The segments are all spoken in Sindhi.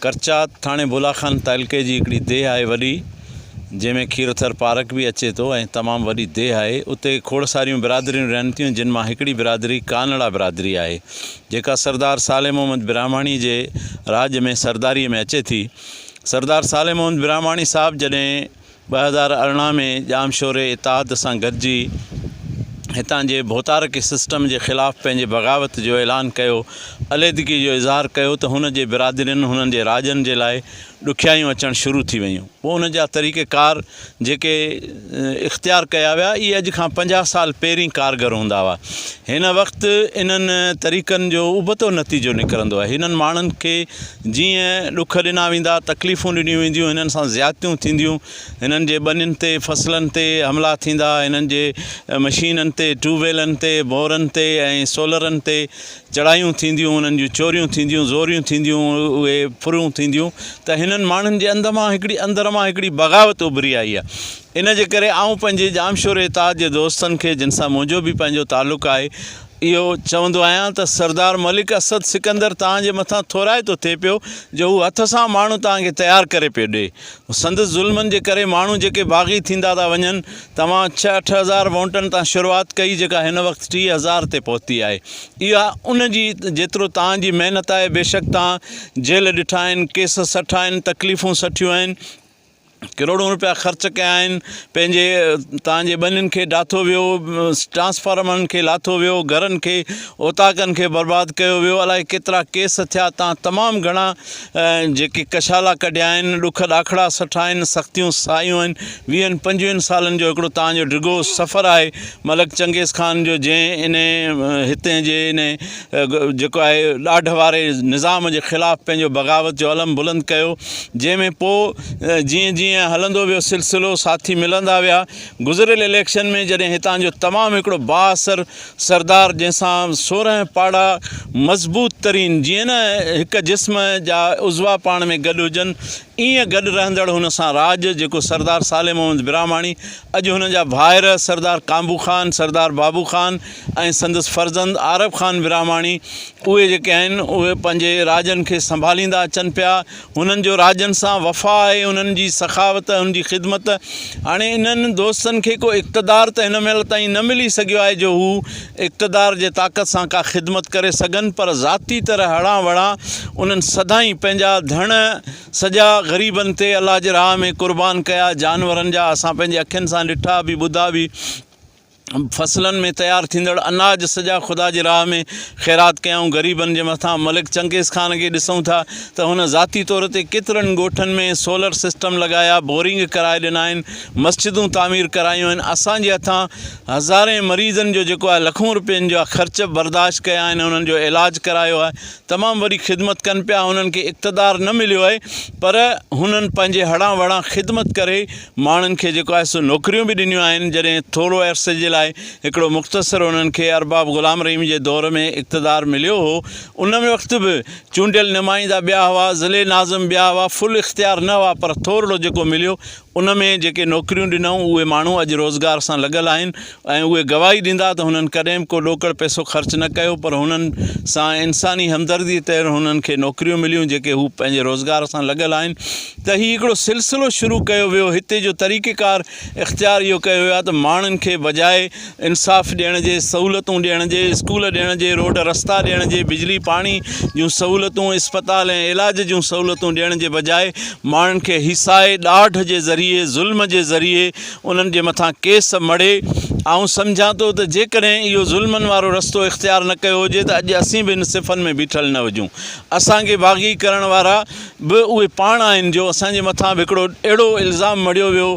ڪرچات ٿاڻي بولاخان تعلقي جي هڪڙي ديهه آهي وڏي جنهن ۾ کيروٿر پارڪ به اچي ٿو ۽ تمام وڏي ديهه آهي اتي کوڙ ساريون برادريون رهن ٿيون جن مان هڪڙي برادري ڪانئڙا برادري آهي جيڪا سردار صالح محمد براهماڻي جي راڄ ۾ سرداري ۾ اچي ٿي سردار صالح محمد براهماڻي صاحب جڏهن ٻه هزار ارڙهن ۾ ڄامشوري اتحاد سان گڏجي هتان جي ڀوتارڪي سسٽم جي خلاف پنهنجي بغاوت جو اعلان ڪيو عليحدگي جو اظهار ڪيو ته هن جي برادرين هنن جي راڄن جي لاء ڏکيائيون اچڻ شروع ٿي ويون پوء ان جا طريقه ڪار جيڪي اختيار ڪيا ويا اهي اڄ کان پنجاهه سال پهرين ڪارگر هوندا هئا هن وقت انهن طريقن جو ابتو نتيجو نڪرندو آهي هنن ماڻهن کي جيئن ڏک ڏنا ويندا، تڪليفون ڏنيون وينديون، هنن سان زيادتيون ٿينديون، هنن جي ٻنين تي فصلن تي حملا ٿيندا، هنن جي مشينن تي، ٽيوب ويلن تي، بورن تي ۽ سولرن تي چڙهايون ٿينديون، انهن جون چوريون ٿينديون، زوريون ٿينديون، اهي ڦرون ٿينديون ته هنن ماڻهن جي اندر مان هڪڙي اندر مان هڪڙي بغاوت اڀري آئي آهي. ان جي ڪري آئون پنهنجي ڄامشوري اتحاد جي دوستن کي جن سان منهنجو به پنهنجو تعلق آهي اهو چوندو آهيان ته سردار ملڪ اسد سڪندر توهان جي مٿان ٿورائتو ٿئي پيو جو هو هٿ سان ماڻهو توهان کي تيار ڪري پيو ڏئي. سندس ظلمن جي ڪري ماڻهو جيڪي باغي ٿيندا ٿا وڃن. توهان ڇهه اٺ هزار وونٽن تان شروعات ڪئي جيڪا هن وقت ٽيهه هزار تي پهتي آهي. اها ان جي جيترو توهان جي محنت آهي بيشڪ توهان جيل ڏٺا آهن، ڪيس سٺا آهن، تڪليفون سٺيون آهن. ڪروڙون روپيا خرچ ڪيا آهن پنهنجي تان جي ٻنين کي ڊاٿو ويو ٽرانسفارمرن کي لاٿو ويو گهرن کي اوطاقن کي برباد ڪيو ويو الائي ڪيترا ڪيس ٿيا تان تمام گهڻا جيڪي ڪشالا ڪڍيا آهن ڏک ڏاکڙا سٺا آهن سختيون سايون آهن ويهن پنجويهن سالن جو هڪڙو تان جو ڊگهو سفر آهي ملڪ چنگيز خان جو جنهن ان هتي جي ان جيڪو آهي ڏاڍ واري نظام جي خلاف پنهنجو بغاوت جو علم بلند ڪيو جنهن ۾ پوء جيئن جيئن هلندو ويو سلسلو ساٿي ملندا ويا گذريل اليڪشن ۾ جڏهن هتان جو تمام هڪڙو بااثر سردار جنهن سان سورهن پاڙا مضبوط ترين جيئن نه هڪ جسم جا عضوا پاڻ ۾ گڏ هجن ايئن گڏ رهندڙ هن سان راڄ جيڪو سردار صالح محمد براهماڻي اڄ هن جا ڀائر سردار ڪانبو خان سردار بابو خان ۽ سندس فرزند عارب خان براهماڻي اهي جيڪي آهن اهي پنهنجي راڄن کي سنڀاليندا اچن پيا هنن جو راڄن سان وفا آهي انهن جي سخاوت انهن جي خدمت هاڻي انهن دوستن کي ڪو اقتدار ته هن مهل تائين نه ملي سگهيو آهي جو هو اقتدار جي طاقت سان ڪا خدمت ڪري سگهن پر ذاتي طرح هڙان وڙان انهن سدائين پنهنجا ڌڻ سڄا غريبن تي الله جي راهه ۾ قربان ڪيا جانورن جا اسان پنهنجي اکين سان ڏٺا به ٻڌا به فصلن ۾ تيار ٿيندڙ اناج سڄا خدا جي راهه ۾ خيرات ڪيائون غريبن جي مٿان ملڪ چنگيز خان کي ڏسون ٿا ته هن ذاتي طور تي ڪيترن ڳوٺن ۾ سولر سسٽم لڳايا بورنگ ڪرائي ڏنا آهن مسجدون تعمير ڪرايون آهن اسان جي هٿان هزارين مريضن جو جيڪو آهي لکون روپين جا خرچ برداشت ڪيا آهن انهن جو علاج ڪرايو آهي تمام وڏي خدمت ڪن پيا انهن کي اقتدار نه مليو آهي پر هنن پنهنجي هڙان وڙان خدمت ڪري ماڻهن کي جيڪو آهي سو نوڪريون به ڏنيون آهن جڏهن ٿورو عرصي جي لاء هڪڙو مختصر انهن کي ارباب غلام رحيم جي دور ۾ اقتدار مليو هو ان وقت به چونڊيل نمائندا ٻيا هئا ضلعي ناظم ٻيا هئا فل اختيار نه هئا پر ٿورڙو جيڪو مليو ان ۾ جيڪي نوڪريون ڏنائون اهي ماڻهو اڄ روزگار سان لڳل آهن ۽ اهي گواهي ڏيندا ته هنن ڪڏهن به ڪو ڏوڪڙ پئسو خرچ نه ڪيو پر هنن سان انساني همدردي طور هنن کي نوڪريون مليون جيڪي هو پنهنجي روزگار سان لڳل آهن ته هي هڪڙو سلسلو شروع ڪيو ويو هتي جو طريقه ڪار اختيار اهو ڪيو ويو آهي ته ماڻهن کي بجاء انصاف ڏيڻ جي سهولتون ڏيڻ جي اسڪول ڏيڻ جي روڊ رستا ڏيڻ جي بجلي پاڻي جون سهولتون اسپتال ۽ علاج جون سهولتون ڏيڻ جي بجاء ماڻهن کي هيسائي ڏاڍ جي ذريعي ظلم جي ذريعي انهن جي مٿان ڪيس مڙهي. آئون سمجهان ٿو ته جيڪڏهن اهو ظلمن وارو رستو اختيار نه ڪيو هجي ته اڄ اسين به ان صفن ۾ بيٺل نه هجون. اسان کي باغي ڪرڻ وارا به اهي پاڻ آهن جو اسان جي مٿان به هڪڙو اهڙو الزام مڙهيو ويو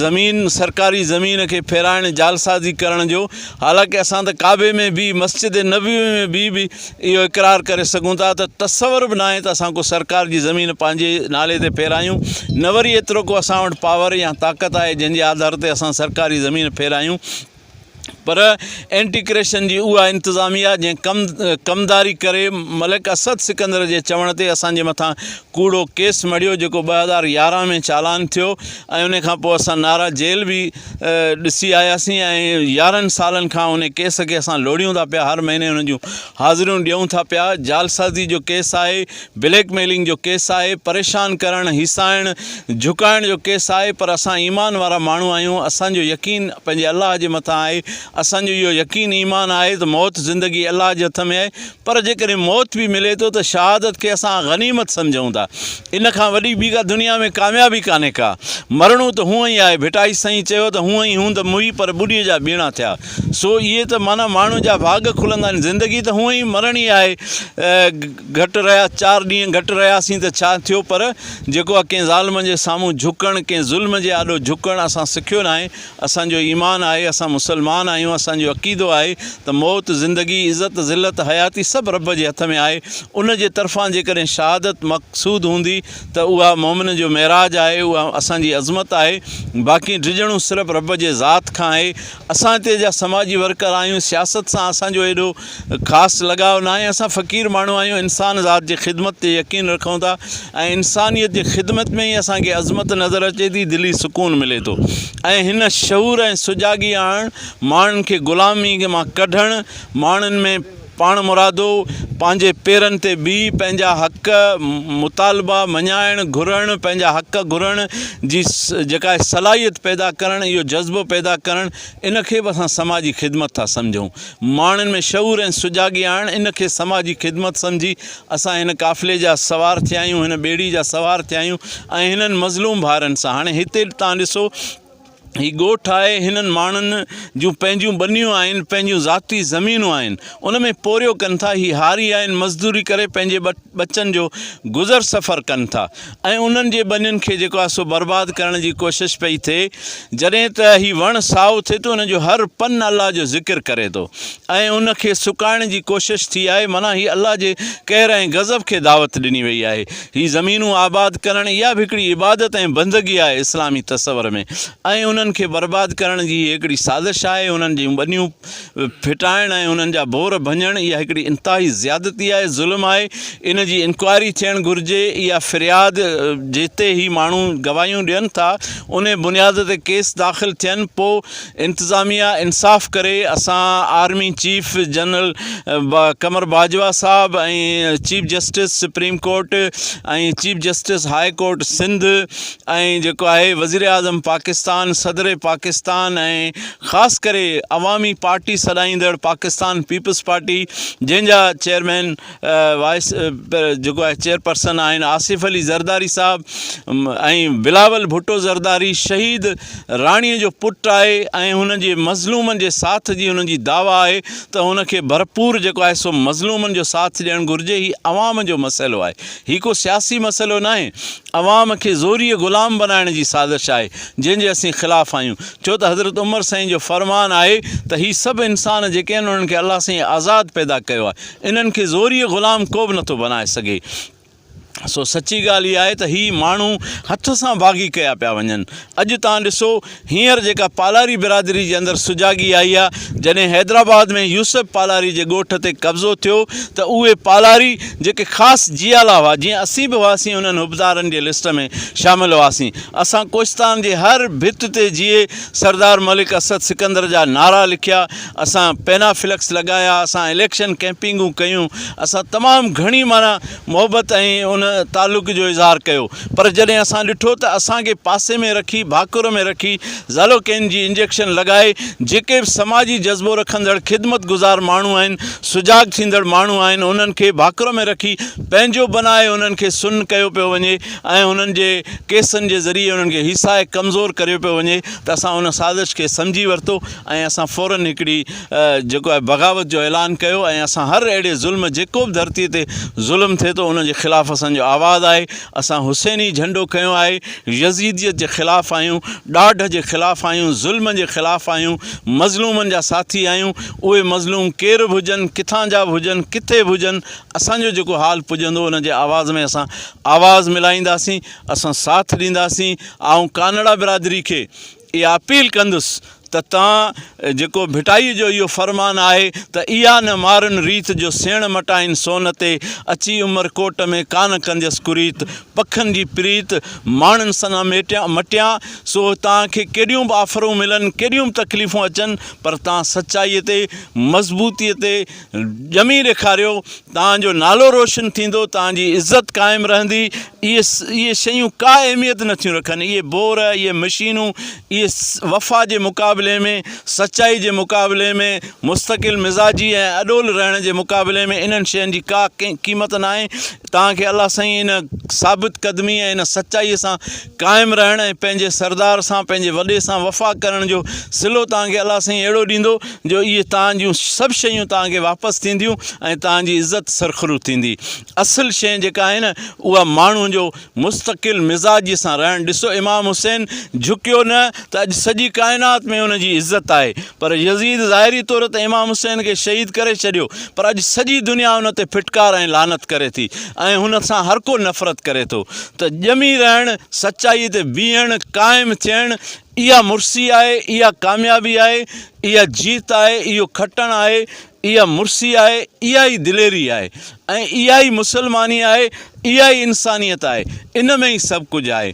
زمين سرڪاري زمين کي ڦيرائڻ جعلسازي ڪرڻ جو حالانڪه اسان ته ڪعبي ۾ به مسجد نبوي ۾ به اهو اقرار ڪري سگهون ٿا ته تصور به ناهي ته اسان ڪو سرڪار جي زمين پنهنجي نالي تي ڦيرايون نه وري ايترو ڪو اسان وٽ پاور يا طاقت آهي جنهن جي آڌار تي اسان سرڪاري زمين ڦيرايون پر اينٽي ڪريشن جي اها انتظاميا جنهن ڪم ڪمداري ڪري ملڪ اسد سڪندر جي چوڻ تي اسان جي مٿان ڪوڙو ڪيس مڙهيو جيڪو ٻه هزار يارهن ۾ چالان ٿيو ۽ ان کان پوء اسان نارا جيل به ڏسي آياسين ۽ يارهن سالن کان ان ڪيس کي اسان لوڙهيون ٿا پيا هر مهيني ان جون حاضريون ڏيون ٿا پيا جعلسازي جو ڪيس آهي بليڪ ميلنگ جو ڪيس آهي پريشان ڪرڻ هيسائڻ جهڪائڻ جو ڪيس آهي پر اسان ايمان وارا ماڻهو آهيون اسان جو يقين پنهنجي الله جي مٿان آهي اسان جو اهو يقين ايمان آهي ته موت زندگي الله جي هٿ ۾ آهي پر جيڪڏهن موت به ملي ٿو ته شهادت کي اسان غنيمت سمجهون ٿا. ان کان وڏي ٻي ڪا دنيا ۾ ڪاميابي ڪانهي ڪا. مرڻو ته هونء ئي آهي. ڀٽائي سائين چيو ته هونء ئي هوند موئي پر ٻڏيء جا ٻيڻا ٿيا. سو اهي ته معنيٰ ماڻهو جا ڀاڳ کلندا آهن. زندگي ته هونء ئي مرڻي آهي. گهٽ رهيا چار ڏينهن گهٽ رهياسين ته ڇا ٿيو پر جيڪو ڪنهن ظالم جي سامهون جهڪڻ، ڪنهن ظلم جي آڏو جهڪڻ اسان سکيو ناهي، اسان جو ايمان آهي، اسان مسلمان آهيون، اسان جو عقيدو آهي ته موت، زندگي، عزت، ذلت، حياتي سڀ رب جي هٿ ۾ آهي، ان جي طرفان جيڪڏهن شهادت مقصود هوندي ته اها مؤمن جو معراج آهي، اها اسان جي عظمت آهي، باقي ڊڄڻو صرف رب جي ذات کان آهي، اسان هتي جا سماجي ورڪر آهيون، سياست سان اسان جو ايڏو. خاص لڳاء ناهي، اسان فقير ماڻهو آهيون، انسان ذات جي خدمت تي يقين رکون ٿا ۽ انسانيت جي خدمت ۾ ئي اسان کي عظمت نظر اچي ٿي، دلي سڪون ملي ٿو ۽ هن شعور ۽ سجاڳي آڻڻ، ماڻهن کي غلامي مان ڪڍڻ، ماڻهن ۾ پاڻمرادو، پنهنجي پيرن تي بيهي پنهنجا حق، مطالبا مڃائڻ، گهرڻ، پنهنجا حق گهرڻ جي جيڪا صلاحيت پيدا ڪرڻ، اهو جذبو پيدا ڪرڻ ان کي به اسان سماجي خدمت ٿا سمجهون. ماڻهن ۾ شعور ۽ سجاڳي آڻڻ ان کي سماجي خدمت سمجهي اسان هن قافلي جا سوار ٿيا آهيون، هن ٻيڙي جا سوار ٿيا آهيون ۽ هنن مظلوم ڀائرن سان هاڻي هتي توهان ڏسو هي ڳوٺ آهي هنن ماڻهن جون پنهنجون ٻنيون آهن، پنهنجون ذاتي زمينون آهن ان ۾ پورهيو ڪن ٿا، هي هاري آهن مزدوري ڪري پنهنجي ٻٽ. ٻچن جو گذر سفر ڪن ٿا ۽ انهن جي ٻنين کي جيڪو آهي سو برباد ڪرڻ جي ڪوشش پئي ٿئي جڏهن ته هي وڻ سائو ٿئي ٿو ان جو هر پن الله جو ذڪر ڪري ٿو ۽ ان کي سڪائڻ جي ڪوشش ٿي آهي معنيٰ هي الله جي قهر ۽ غضب کي دعوت ڏني وئي آهي هي زمينون آباد ڪرڻ اها به هڪڙي عبادت ۽ بندگي آهي اسلامي تصور ۾ ۽ انهن کي برباد ڪرڻ جي هي هڪڙي سازش آهي انهن جون ٻنيون ڦٽائڻ ۽ انهن جا ڀور ڀڃڻ اها هڪڙي انتهائي زيادتي آهي، ظلم آهي، ان جي انڪوائري ٿيڻ گهرجي، اها فرياد جتي هي ماڻهو گواهيون ڏين ٿا انهي بنياد تي ڪيس داخل ٿين پو انتظاميا انصاف ڪري، اسان army chief general Qamar Bajwa صاحب ۽ chief justice supreme court ۽ chief justice high court Sindh ۽ جيڪو آهي وزيراعظم پاڪستان صدر پاڪستان ۽ خاص ڪري عوامي پارٽي سڏائيندڙ پاڪستان پيپلز پارٽي جنهن جا چيئرمين وائيس جيڪو آهي چيئرپرسن آهن آصف علي زرداري صاحب ۽ بلاول ڀٽو زرداري شهيد راڻي جو پٽ آهي ۽ هن جي مظلومن جي ساٿ جي هن جي دعويٰ آهي ته هن کي ڀرپور جيڪو آهي سو مظلومن جو ساٿ ڏيڻ گهرجي هي عوام جو مسئلو آهي هي ڪو سياسي مسئلو ناهي عوام کي زوريء غلام بنائڻ جي سازش آهي جنهن جي اسين خلاف آهيون ڇو ته حضرت عمر سائين جو فرمان آهي ته هي سڀ انسان جيڪي آهن انهن کي الله سائين آزاد پيدا ڪيو آهي انهن کي زوريء غلام ڪو به نٿو بنائي سگهي سو سچي ڳالهه اها آهي ته هي ماڻهو هٿ سان باغي ڪيا پيا وڃن اڄ تان ڏسو هينئر جيڪا پالاري برادري جي اندر سجاڳي آئي آهي، جڏهن حيدرآباد ۾ يوسف پالاري جي ڳوٺ تي قبضو ٿيو ته اهي پالاري جيڪي خاص جيالا هئا، جيئن اسين به هئاسين انهن حبدارن جي لسٽ ۾ شامل هئاسين. اسان ڪوهستان جي هر ڀت تي جيئي سردار ملڪ اسد سڪندر جا نعرا لکيا، اسان پينا فلڪس لڳايا، اسان اليڪشن ڪئمپنگون ڪيون، اسان تمام گهڻي معنيٰ. محبت ۽ ان تعلق جو اظهار ڪيو پر جڏهن اسان ڏٺو ته اسان کي پاسي ۾ رکي ڀاڪر ۾ رکي زالوڪين جي انجيڪشن لڳائي جيڪي به سماجي جذبو رکندڙ خدمت گذار ماڻهو آهن سجاڳ ٿيندڙ ماڻهو آهن انهن کي ڀاڪر ۾ رکي پنهنجو بنائي انهن کي سن ڪيو پيو وڃي ۽ انهن جي ڪيسن جي ذريعي انهن کي هيسائي ڪمزور ڪريو پيو وڃي ته اسان ان سازش کي سمجهي ورتو ۽ اسان فورن هڪڙي جيڪو آهي بغاوت جو اعلان ڪيو ۽ اسان هر اهڙي ظلم جيڪو به ڌرتي تي ظلم ٿئي ٿو ان جي خلاف اسان جو آواز آهي اسان حسيني جهنڊو کنيو آهي يزيديت جي خلاف آهيون ڏاڍ جي خلاف آهيون ظلم جي خلاف آهيون مظلومن جا ساٿي آهيون اهي مظلوم ڪير به هجن ڪٿان جا به هجن ڪٿي به هجن اسان جو جيڪو حال پڄندو ان جي آواز ۾ اسان آواز ملائينداسين اسان ساٿ ڏينداسين آئون ڪانئڙا برادري کي اها اپيل ڪندس ته تان جيڪو ڀٽائيء جو اهو فرمان آهي ته اها نه مارن ريت جو سيڻ مٽائين سون تي اچي عمر ڪوٽ ۾ ڪانه ڪنديس ڪريت پکن جي پريت ماڻن سنا مٽيان سو تان کي ڪيڏيون به آفرون ملن ڪيڏيون به تڪليفون اچن پر تان سچائيء تي مضبوطيء تي ڄمي ڏيکاريو توهان جو نالو روشن ٿيندو توهان جي عزت قائم رهندي اهي اهي شيون ڪا اهميت نٿيون رکن اهي بور اهي مشينون اهي وفا جي مقابلي ۾ سچائي جي مقابلي ۾ مستقل مزاجي ۽ اڏول رهڻ جي مقابلي ۾ انهن شين جي ڪا قيمت ناهي توهان کي الله سائين ان ثابت قدمي ۽ ان سچائي سان قائم رهڻ ۽ پنهنجي سردار سان پنهنجي وڏي سان وفا ڪرڻ جو صلو توهان کي الله سائين اهڙو ڏيندو جو اهي توهان جون سڀ شيون توهان کي واپس ٿينديون ۽ توهان جي عزت سرخرو ٿيندي اصل شئي جيڪا آهي نه اها ماڻهو جو مستقل مزاجي سان رهڻ ڏسو امام حسين جهڪيو نه ته اڄ سڄي ڪائنات ۾ ان جي عزت آهي پر يزيد ظاهري طور ته امام حسين کي شهيد ڪري ڇڏيو پر اڄ سڄي دنيا ان تي ڦٽڪار ۽ لعنت ڪري ٿي ۽ هن سان هر ڪو نفرت ڪري ٿو ته ڄمي رهڻ، سچائي تي بيهڻ، قائم ٿيڻ اها مڙسي آهي، اها ڪاميابي آهي، اها جيت آهي، اهو کٽڻ آهي، اها مڙسي آهي، اها ئي دليري آهي ۽ اها ئي مسلماني آهي، اها ئي انسانيت آهي، ان ۾ ئي سڀ ڪجهه آهي.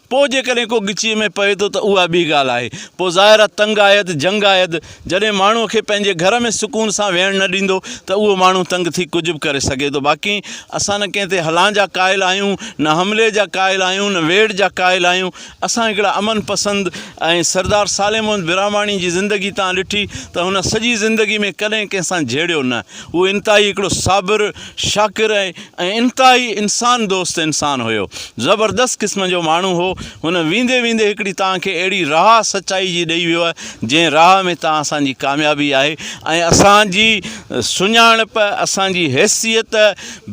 پوء جيڪڏهن ڪو ڳچيء ۾ پئي ٿو ته اها ٻي ڳالهه آهي. پوء ظاهر آهي تنگ آيد، جنگ آيد، جڏهن ماڻهوء کي پنهنجي گهر ۾ سڪون سان ويهڻ نه ڏيندو ته اهو ماڻهو تنگ ٿي ڪجهه به ڪري سگهي ٿو. باقي اسان نه ڪنهن تي هلان جا قائل آهيون، نه حملي جا قائل آهيون، نه ويڙهه جا قائل آهيون. اسان هڪڙا امن پسند ۽ سردار صالح محمد براهماڻي جي زندگي تان ڏٺي ته هن سڄي زندگي ۾ ڪڏهن ڪنهن سان جهيڙيو نه. هو انتهائي هڪڙو صابر، شاڪر ۽. ۽ انتهائي انسان دوست انسان هيو. زبردست قسم جو ماڻهو هو. هن ويندي ويندي هڪڙي توهان کي اهڙي راهه سچائي جي ڏئي ويو آهي جنهن راهه ۾ توهان اسان جي ڪاميابي آهي ۽ اسان جي سڃاڻپ اسان جي حيثيت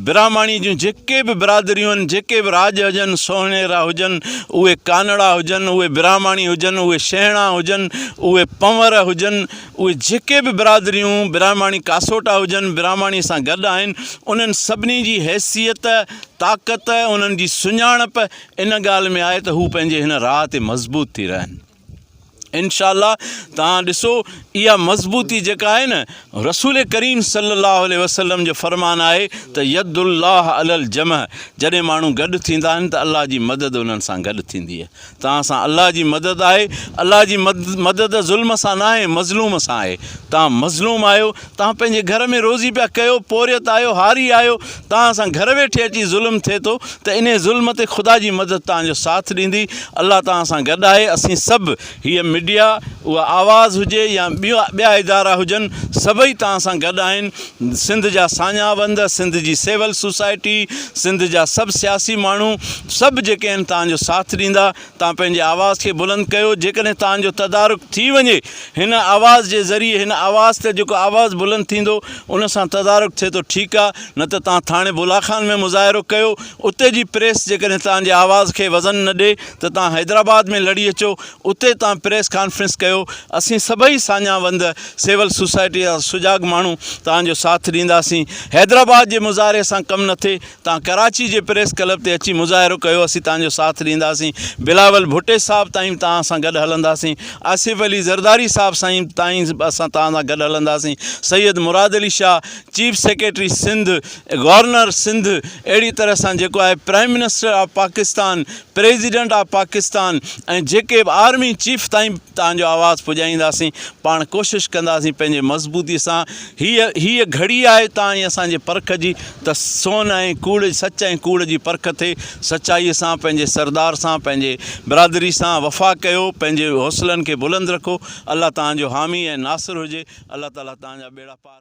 براهماڻي جون جيڪي به برادريون آهن جيڪي به راڄ هجن سوهڻيرا هجن اهي ڪانڙا هجن اهي براهماڻي هجن اهي شينهڻا هجن اهي پنور هجن اهي جيڪي به برادريون براهماڻي ڪاسوٽا هجن براهماڻي سان گڏ آهن انهن سڀني جي حيثيت طاقت انهن جي سڃاڻپ ان ڳالهه ۾ آهي ته هو پنهنجي هن راهه تي مضبوط ٿي رهن انشاء الله تان ڏسو اها مضبوطي جيڪا آهي نه رسول ڪريم صلي الله عليه وسلم جو فرمان آهي ته يد الله علل جمع جڏهن ماڻهو گڏ ٿيندا آهن ته الله جي مدد انهن سان گڏ ٿيندي توهان سان الله جي مدد آهي، الله جي مدد ظلم سان ناهي مظلوم سان آهي، توهان مظلوم آهيو، توهان پنهنجي گهر ۾ روزي پيا ڪيو، پورهيت آهيو، هاري آهيو، توهان سان گهر ويٺي اچي ظلم ٿئي ٿو ته انهي ظلم تي خدا جي مدد توهان جو ساٿ ڏيندي، الله توهان سان گڏ آهي، اسين سڀ هيء ميڊيا اها آواز هجي يا ٻيا ادارا هجن سڀئي توهان سان گڏ آهن، سنڌ جا ساڃاهه وند، سنڌ جي سول سوسائٽي، سنڌ جا سڀ سياسي ماڻهو سڀ جيڪي آهن توهان جو ساٿ ڏيندا. توهان پنهنجي آواز کي بلند ڪيو. جيڪڏهن توهان جو تدارڪ ٿي وڃي هن آواز جي ذريعي هن آواز تي جيڪو آواز بلند ٿيندو ان سان تدارڪ ٿئي ٿو ٺيڪ آهي نه ته توهان ٿاڻي بولا خان ۾ مظاهرو ڪيو اتي جي پريس جيڪڏهن توهان جي آواز کي وزن نه ڏي ته توهان حيدرآباد ۾ لڙي اچو اتي تان پريس ڪانفرنس ڪيو اسين سڀئي ساڃاهه وند سول سوسائٽي جا سجاڳ ماڻهو توهان جو ساٿ ڏينداسين حيدرآباد جي مظاهري سان ڪم نه ٿئي توهان ڪراچي جي پريس ڪلب تي اچي مظاهرو ڪيو اسين توهان جو ساٿ ڏينداسين بلاول ڀٽي صاحب تائين به توهان سان گڏ هلنداسين آصف علي زرداري صاحب سائين تائين به اسان توهان سان گڏ هلنداسين Syed Murad Ali Shah chief secretary Sindh governor Sindh اهڙي طرح سان جيڪو آهي prime minister of Pakistan president of Pakistan ۽ جيڪي به آرمي چيف تائين توهان جو آواز پڄائينداسين پاڻ ڪوشش ڪنداسين پنهنجي مضبوطي سان هيء هيء گهڙي آهي توهان ۽ اسان جي پرک جي ته سون ۽ ڪوڙ سچ ۽ ڪوڙ جي پرک ٿئي سچائي سان پنهنجي سردار سان پنهنجي برادري سان وفا ڪيو پنهنجي حوصلن کي بلند رکو الله توهان جو حامي ۽ ناصر هجي الله تعالي توهان جا ٻيڙا پار